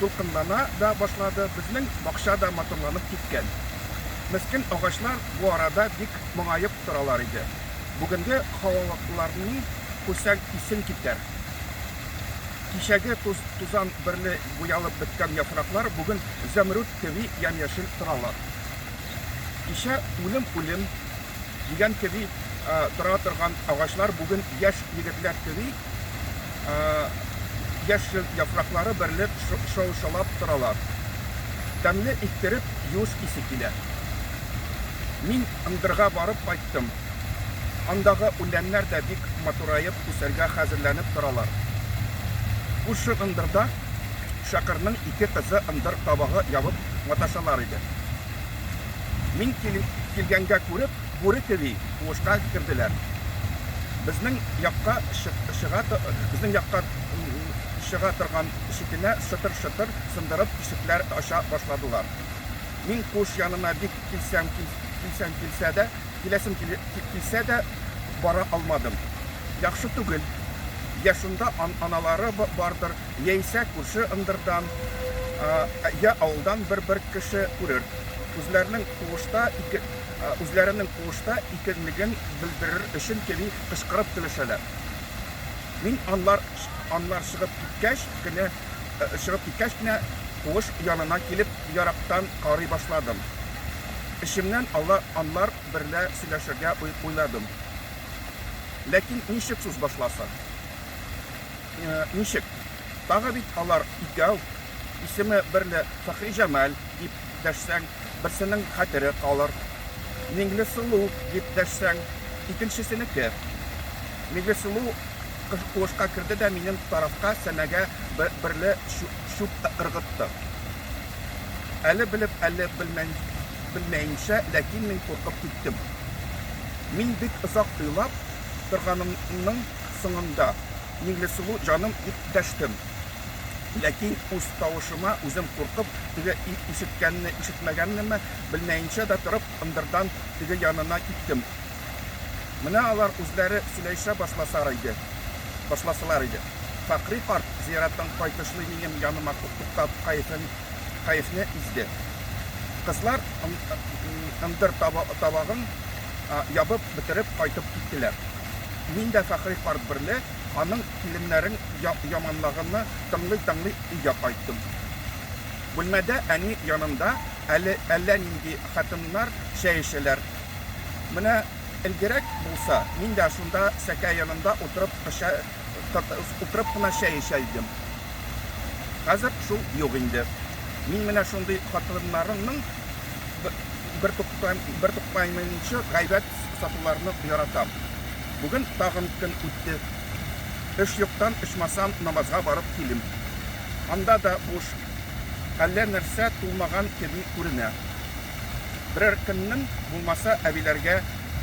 дулкынлана да башлады, безнең бакча да матурланып киткән. Мескен агачлар бу арада бик моңаеп торалар иде. Бүгенге һавалыларны күрсәң, исең китәр. Кичәге туз-тузан берле буялып беткән яфраклар бүген зәмруд кеби ямь-яшел торалар. Кичә үлем, үлем дигән кеби тора торган агачлар бүген яшь егетләр кеби яшел яфраклары берлеп шау-шаулап торалар. Тәмле иттереп юш исе килә. Мин ындырга барып кайттым. Андагы үләннәр дә бик матураеп үсәргә хәзерләнеп торалар. Күрше ындырда Шакырның ике кызы ындыр табагы ябып маташалар иде. Мин килгәнгә күреп, Бүре кеби куышка керделәр. Безнең якка чыга, безнең якка чыга торган ишекенә шытыр-шытыр сындырып тишекләр ача башладылар. Мин куыш янына бик килсәм килсәм килсә дә, киләсем килсә дә бара алмадым. Яхшы түгел. Йә шунда аналары бардыр, яисә күрше ындырдан, йә авылдан бер-бер кеше күрер. Үзләренең куышта ике үзләренең куышта икәнлеген белдерер өчен кеби кычкырып көлешәләр. Мин анлар анлар чыгып киткәч кенә чыгып киткәч кенә куыш янына килеп ярактан карый башладым. Эчемнән алар анлар берлә сөйләшергә уйладым. Ләкин ничек сүз башласын? Ничек? Тагы бит алар икәү, исеме берлә Фәхриҗамал дип дәшсәң, берсенең хәтере калыр. Миңлесылу дип дәшсәң, икенчесенеке. Миңлесылу куышка керде дә минем тарафка сәнәгә берле чүп ыргытты. Әле белеп, әле белмәенчә, ләкин мин куркып киттем. Мин бик озак уйлап торганымның соңында, Миңлесылу җаным, дип дәштем. Ләкин үз тавышыма үзем куркып, теге ир ишеткәнме-ишетмәгәнме, белмәенчә дә торып, ындырдан теге янына киттем. Менә алар үзләре сөйләешә башласар иде, башласалар иде. Фәкъри карт, зияраттан кайтышлый минем яныма туктап, кәефен, кәефне изде. Кызлар ындыр табагын ябып бетереп кайтып киттеләр. Мин дә Фәкъри карт берле Аның киленнәрен яманлаганны тыңлый-тыңлый өйгә кайттым. Бүлмәдә әни янында әле әллә нинди хатыннар чәй эчәләр. Менә элгерәк булса, мин дә шунда сәке янында утырып утырып кына чәй эчә идем. Хәзер шул юк инде. Мин менә шундый хатыннарымның бертуктамыйча гайбәт сатуларны яратам. Бүген тагын көн үтте. Эш юктан, ичмасам, намазга барып килим. Анда да буш, әллә нәрсә тулмаган кеби күренә. Берәр көннең булмаса, әбиләргә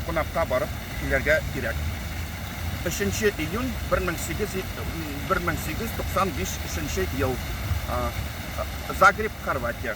кунакка барып килергә кирәк. Өченче июнь, бер мең сигез бер мең сигез йөз туксан биш шенче ел. Загреб, Хорватия.